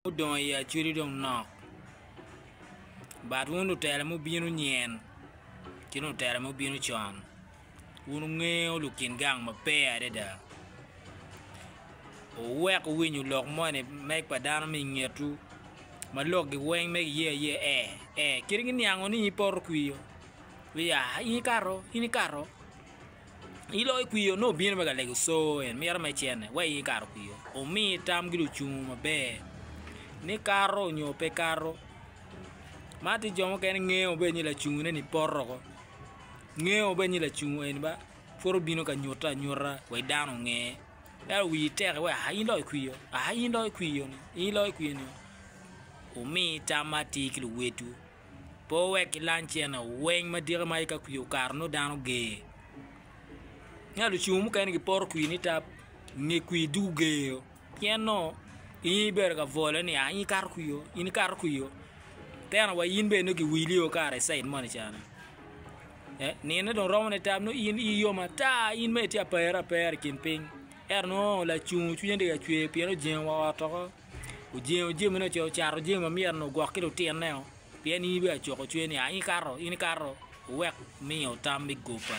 Gudongo i acudu dong nok, but wun lutela mubino nyen ki dong lutela mubino con, wun wungeyo lukin gang maber adada, wuwek wuwinyo lok moni me pa dano ma ingetwu ma lokgi weng ma giye aye ee ee kadi giniango ni in ipoto kwir, wiya in ikato in ikato. Ilo ikwiyo nongo obino me ka lego coo en mito me cene wa i kato kwiyo omi tam ki lucungu maber ni kato nyo pe kato ma tye jo mukene ngengo maber ni lacungu ne ni poto woko ngengo maber ni lacungu eni ba pud obino ka nyute anyuta wa i dano onge ento wii tek wa aa in dong ikwiyo aa in dong ikwiyo ni in dong ikwiyo ni omi tam ma atir ki luwotwu. Pe wek ilang cene weng ma dika ma ika kwir okato nongo dano ger. Nia lucungu mukene giporo kwir ni tab nge kwir dugu ger pien nongo in ibedo ka bwolo ni in ikato kwir oo in ikato kwir oo tena wa in bene nongo giwili oo kara i cid moni ca ni eh nine dong romo ne tab nongo in iyi yom ata in mere itye ka pere apera i kin piny ento nongo lacungu cwinye tye ka cwer pien ojengo wa ot woko. Ojengo jamine ce ocato jami ma myero ni ogwok ki lutineo, pien in ibino acoko cwer ni, 'A in ikato, in ikato! Wuwek wumiyo tam me goba,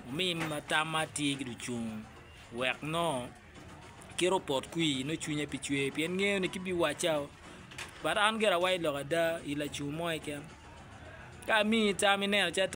wumi tam ma tye ki lucung, wek nongo kite opot kwir nongo cwinye pe cwer pien ngeyo ni kit ma ibiwaccao. But an gira awaco lok ada, i lacum mo keken, ka amiyi tam ineno calo.